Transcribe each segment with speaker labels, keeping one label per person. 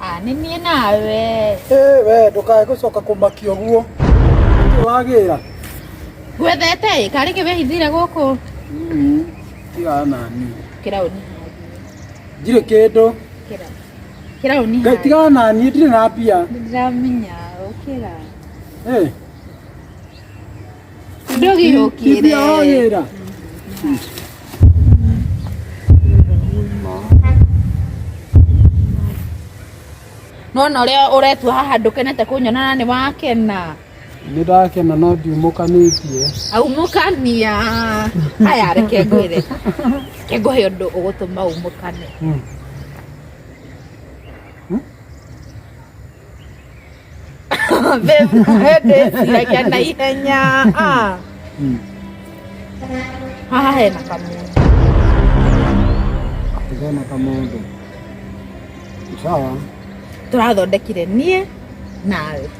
Speaker 1: Ah, nĩ niĩ nawe Ĩ we ndũkae gũcoka kũmakia ũguo wagĩra ngwethete ĩ karĩ kĩ wĩhithire gũkũ tiga nani kĩraũni njirĩ kĩndũ kĩraũni Kĩra Ngai ũnihae. tigana na niĩ ndirĩ na mbia Ndĩramenya ũkĩra. Eh, Ndũgĩũkire. mbia wa wĩra Nona ũrĩa ũretua haha ndũkenete kũnyona na nĩ wakena. nä ndakena no ndiumåkanä tie aumũkania aya reke ngwĩre reke ngũhe ũndũ ũgũtũma umũkane ndĩreke na ihenya Ah. haha hena kamũndũ kena kamå ndå sawa tũrathondekire niĩ nawe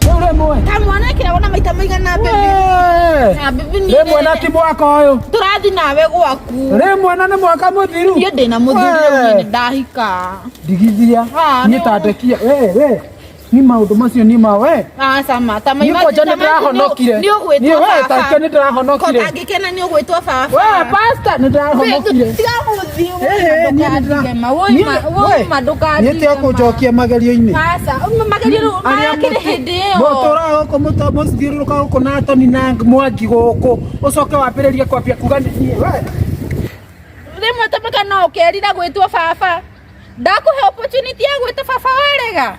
Speaker 1: Rĩu rĩmwe. Ta mwanake ona maita maigana mbembe. Wee! Na mbembe ni Rĩmwe na ti mwaka ũyũ. Tũrathi nawe gwaku. Rĩmwe na nĩ mwaka mũthiru. Niĩ ndĩna mũthuri Wee. rĩu nĩ ndahika. Ndigithia. Ah, Niĩ no. tandekia. Wee, wee. Ni maũndũ macio ni ma wee. Ah, sama. Ta Niĩ kwanja nĩ ndĩrahonokire. Nĩ ũgwĩtwo Niĩ wee, baba. tandekia nĩ ndĩrahonokire. Ko angĩkena nĩ ũgwĩtwo baba. Wee, pastor, nĩ ndĩrahonokire. Tiga nyete akunjokia magerio-inĩ mũtũraga gũkũ mũto- mũthiũrũrũka gũkũ na toni na mwangi gũkũ ũcoke wambĩrĩrie kwambia kuga nĩ niĩ we. rĩmwe tũmĩka no ũkerira gwĩtwo baba ndakũhe opportunity ya gwĩta baba warega